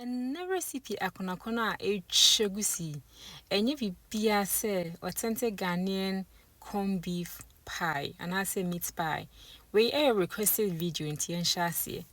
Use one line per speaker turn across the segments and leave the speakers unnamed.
Ɛnnɛ recipe akonakɔnɔ a ɛretwa gusi yi, ɛnyɛ biribiara sɛ authentic Ghanaian corn beef pie anaasɛ meat pie. Wei ɛyɛ requested video nti yɛnhyɛ aseɛ.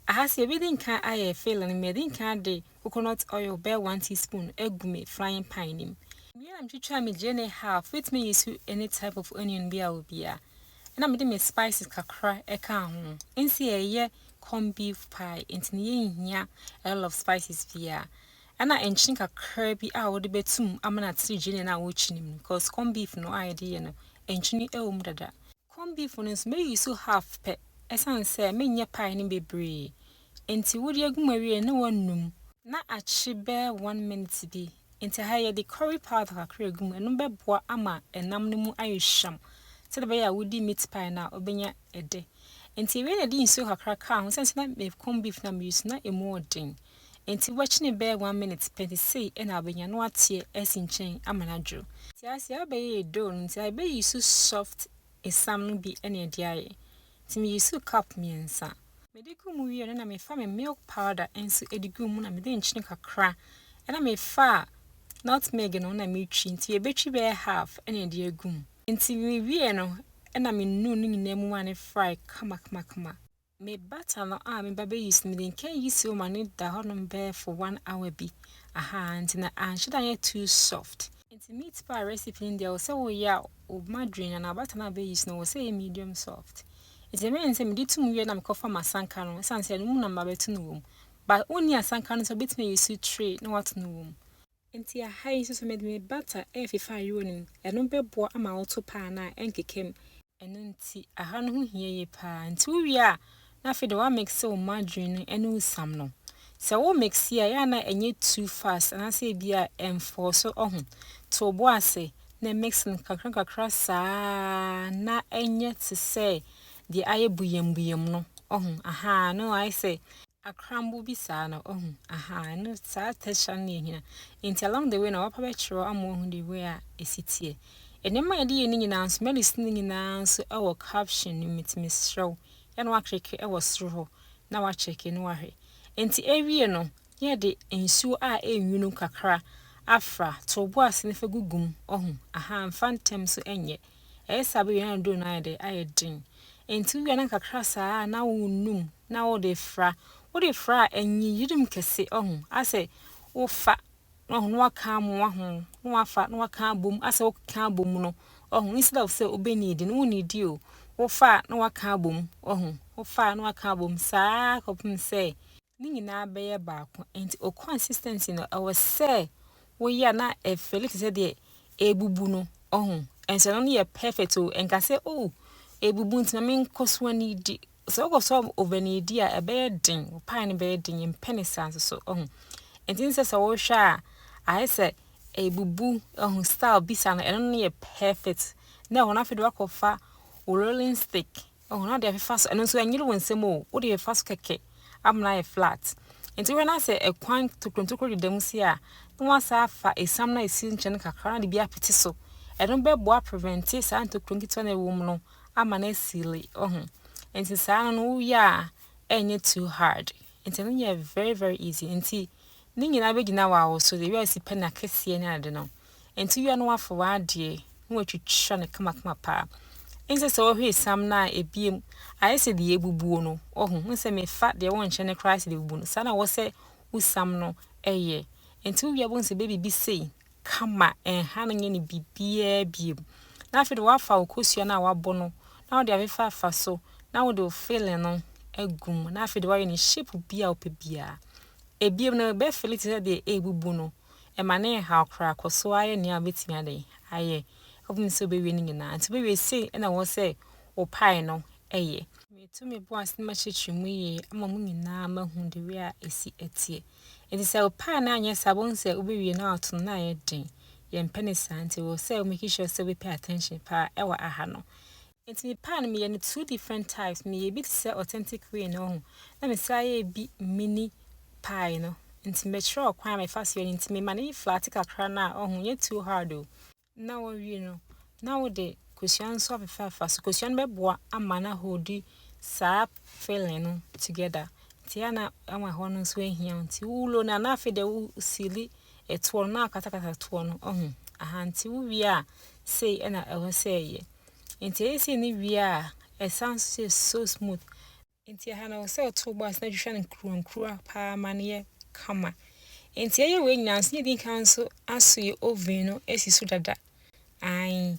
Aha sɛ yɛbɛdi nkan ayɛ filling no, madi nkan ade coconut oil bɛyɛ 1 teaspoon agu me frying pan no mu. Mewie na metwitwa me gyeene half, wobɛtumi ayi so any type of onion bi a wɔ biara. Ɛna mede me spices kakra ɛka ho. Ɛnsi ɛyɛ corn beef pie nti no yɛnhia a lot of spices biaa ɛna nkyene kakra bi a wode bɛtum ama no atere gyeene no a wokyini mu because corn beef no a yɛde yɛ no nkyene ɛwɔ mu dada corn beef no nso mɛ use half pɛ ɛsiane sɛ menyɛ pie no bebree nti wode agu mu awie na woanum na akye bɛɛ one minute bi Nti ha yi yɛde curry powder kakra egu mu, ɛno bɛboa ama ɛnam no mu ayɛ hwam sɛdeɛ ɛbɛyɛ a wodi meat pie no a wobɛnya ɛdɛ. Nti yɛwie na yɛde nsuo kakra kaa ho, sɛn sɛ na me corn beef na me use na ɛmu ɔden. Nti wobɛkyene bɛyɛ one minute pɛ nti sei ɛna wobɛnya na wateɛ asi nkyɛn ama no adworo. Nti ha sei abɛyɛ yɛ dough no nti ha yɛbɛ use soft esam no bi ɛna ɛde ayɛ. nti me use cup mmiɛnsa. Mede gu mu wie no na mefa me milk powder nso de gu mu na mede nkyene kakra na mefa nutmeg no na metwi nti yɛbɛtwi bɛyɛ half na ɛde agu mu. Nti me wie no na me nunu ne nyinaa mu ma ne fry kamakamakama. Me butter no a me ba bɛ use no mede nka use wɔ ma ne da hɔ nom bɛyɛ for one hour bi ahaa nti na anhyɛ da nyɛ too soft. Nti meat pie recipe no deɛ wɔ sɛ woyɛ a woma drain anaa bata no a bɛ use no wɔ sɛ ɛyɛ medium soft nti ɛbɛyɛ ne sɛ mede to mu wie na mekɔfa masanka no ɛsiane sɛ ɛno mu na mabɛto no wɔ mu but wonni asanka no sɛ wobɛtumi ayɛ su tray na wato no wɔ mu nti aha yi nso sɛ mede me bata ɛɛfefa ayerɛ no mu ɛno bɛboa ama woto paa no a ɛnkeka mu. Ɛno nti aha no ho hia yie paa. Nti wo wie a na afei deɛ wa mixe wo margarine no ɛne wo sam no. Sɛ wo mixe a ɛyɛ a na ɛnyɛ too fast anaasɛ ebi a ɛnfɔɔ so ɔho. To wo bo ase na mixe no kakra nkakra saa na ɛnyɛ te sɛ deɛ ayɛ buyɛm buyɛm no ɔho ahaa no ayɛ sɛ akrambo bi saa na wahu ahaa ɛno saa texture no na yɛhia nti along the way na wapa bɛkyerɛw ama wahu the way a ɛsi teɛ nneɛma a yɛde yɛ no nyinaa nso melodies no nyinaa nso ɛwɔ caption no mu nti mesrɛ wo yɛ na wakleke ɛwɔ soro hɔ na wakyɛke no wahwɛ nti ɛwie no na yɛde nsuo a ɛnwunu kakra afra to bo ase na fa gugu mu wahu ahaa mfa ntɛm so ɛnyɛ ɛyɛ saa bɛwie na aduro no ayɛ dɛ ayɛ den nti wowie na kakra saa na wonum na wode fra wode fra a ɛnye yirim kɛse ɔho asɛ wofa na ɔho na waka amoa ho na wafa na waka abom asɛ wokeka abom no ɔho instead of sɛ obe need no wo need o wofa a na waka abom ɔho wofa a na waka abom saa kɔpem sɛ ne nyinaa bɛyɛ baako nti o consistency no ɛwɔ sɛ woyɛ a na ɛfɛli te sɛ deɛ ebubu no ɔho ɛnso ɛno no yɛ perfect o ɛnka sɛ o ebubu nti na menkɔ so anidi Sɛ wokɔ so a wobɛn edi a ɛbɛyɛ den, wo pae no bɛyɛ den, yɛmpɛ ne saa nso so, ɔho. Ɛnti sɛ sɛ wohwɛ a, ayɛ sɛ ebubu, ɔho, style bisa no, ɛno no yɛ perfect. Na ɛhɔ no afei de wakɔfa wo rolling stick, ɔho, na ɔde afefa so, ɛno nso ɛnyere wo nsɛm o, wode fefa so kɛkɛ, ama no ayɛ flat. Ɛnti wohwɛ na sɛ ɛkwan tokorotokoro deda mu si a, na wasa afa esiam na esi nkyɛn kakra na de bi apete so. Ɛno bɛboa prevente saa ntokuro nketewa na ɛwɔ mu no, ama no asili ohu nti saa no no wo yɛ a ɛnyɛ too hard nti no yɛ very very easy nti ne nyinaa bɛgyina wɔ awo so de wia si pɛ na kɛseɛ ne ade no nti wia no wafo wɔ adeɛ na watwitwa no kamakama paa nsɛ sɛ wɔhwɛ sam no a ebiem ayɛ sɛ deɛ ebubuo no ohu nsɛ mefa deɛ wɔnhyɛ no koraa sɛ deɛ ebubu no saa na wɔ sɛ wusam no ɛyɛ nti wia bɛhu sɛ bɛbibi sei kama, ɛnha no nyɛ no biribiara biom. Na afei de woafa wo kosua no a woabɔ no na wode afefa afa so na wode wo filling no agu mu na afei de woayɛ no shape bi a wopɛ biara. Ebiom no ɛbɛ fili te sɛ deɛ ɛrebubu no, ɛma ne nhaw koraa kɔ so ara yɛ nea wobɛtumi adɛn ayɛ akɔpem sɛ wobɛwie ne nyinaa. Nti wobɛwie sei na ɛwɔ sɛ wo pie no yɛ. Metu me bo ase na makyerɛkyerɛ mu yie ama mo nyinaa mahu the way a ɛsi teɛ. Enti sɛ wo paa no anyɛ saa wohu sɛ wobɛwie na woato no na ayɛ den. Yɛmpɛ no saa nti wɔ sɛ wo make sure sɛ wobɛpɛ attention paa ɛwɔ aha no. Enti me paa no meyɛ no two different types, meyɛ bi te sɛ authentic way no wohu, na mesan yɛ bi mini pie no. Nti mɛkyerɛ wo kwan a mefa so yɛ no nti mema no yɛ flaate kakra no a wohu, nyɛ too hard o. na wɔwie no na wode kosua nso afefaafa so kosua no bɛboa ama na hodi saa filling no together nti a na ama hɔ no nso ahia nti wulo na na afei de wusili ɛtoɔ no na akatakata toɔ no ɔho aha nti wuwie a sei ɛna ɛwɔ sɛ ɛyɛ nti ɛyɛ sei ne wie a ɛsan so so smooth Enti ɛha no ɛwɔ sɛ ɔtow bɔ ase na twitwa no nkuruwankuruwa paa ma no yɛ kama. Enti ɛyɛ wei nyinaa nso na edi nkan nso asoe oven no asi so dada. Ae.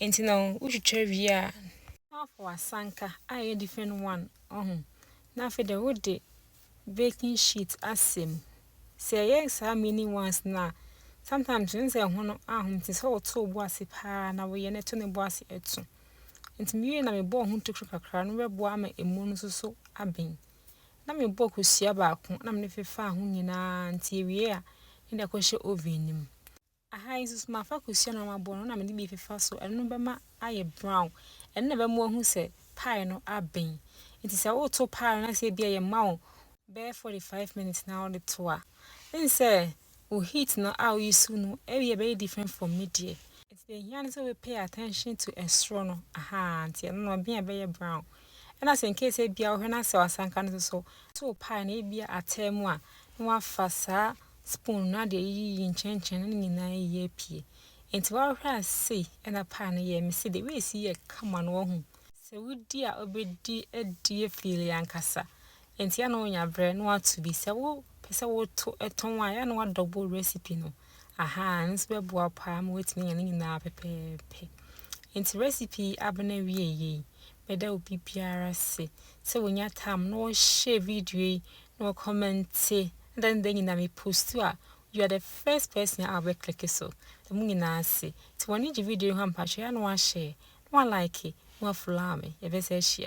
Enti na wotwitwa wie a, na woafa w'asanka a ɛyɛ different one, ɔho, na afei deɛ wode baking sheet asɛ mu. Sɛ ɛyɛ saa mini ones no a, sometimes wohu sɛ ɛho no ahom nti sɛ wotow bɔ ase paa na woyɛ na ɛto ne bɔ ase to. Enti miwiei na mebɔɔ ho tokuru kakra no bɛboa ama emu no nso so aben. Na mebɔɔ kosua baako na mede fefaa ho nyinaa nti ewie a na de akɔhyɛ oven no mu. Aha yi nso mafa kosua na mabɔ no na mede bi fefa so, ɛno bɛma ayɛ brown. Ɛno na ɛbɛma wahu sɛ pie no aben. Enti sɛ woreto pie no na sɛ ebi a yɛma wo bɛyɛ 45 minutes na wode to a, n sɛ Wo heat no a wo use no ɛyɛ very different from me deɛ. Nti deɛ ɛhia ne sɛ wo pay attention to ɛsoro no ahaa nti ɛno no ɛbea ɛbɛyɛ brown ɛna sɛ incase ɛbia wo hwɛ na sɛ wasanka no soso to wo pie no ɛbia ataa mu a na wafa saa spoon no ade ayiyi nkyɛnkyɛn no ne nyinaa ayi apue nti wa hwɛ a sei ɛna pie no yɛ mesi de wei si yɛ kama no wahu sɛ wodi a obedi adie feel ankasa Enti ɛyɛ a na ɔnya berɛ na wato bi. Sɛ wopɛ sɛ woto tɔn a, ɛyɛ a na wadɔbo recipe no. Ahaa, ɛno nso bɛboa wo paa ma woatumi anya ne nyinaa pɛpɛɛpɛ. Enti recipe yi abena wieeɛ yi, mɛda obi biara ase sɛ wanya time na ɔhyɛɛ video yi na ɔkɔmɛnte na da ne da nyinaa me postu a, you are the first person a wobɛ click so. Da mo nyinaa ase. Nti w'ani gye video yi ho a mpakyɛ ɛyɛ a na wahyɛɛ, na wa like, na wa follow me. Yɛbɛsa ahyia.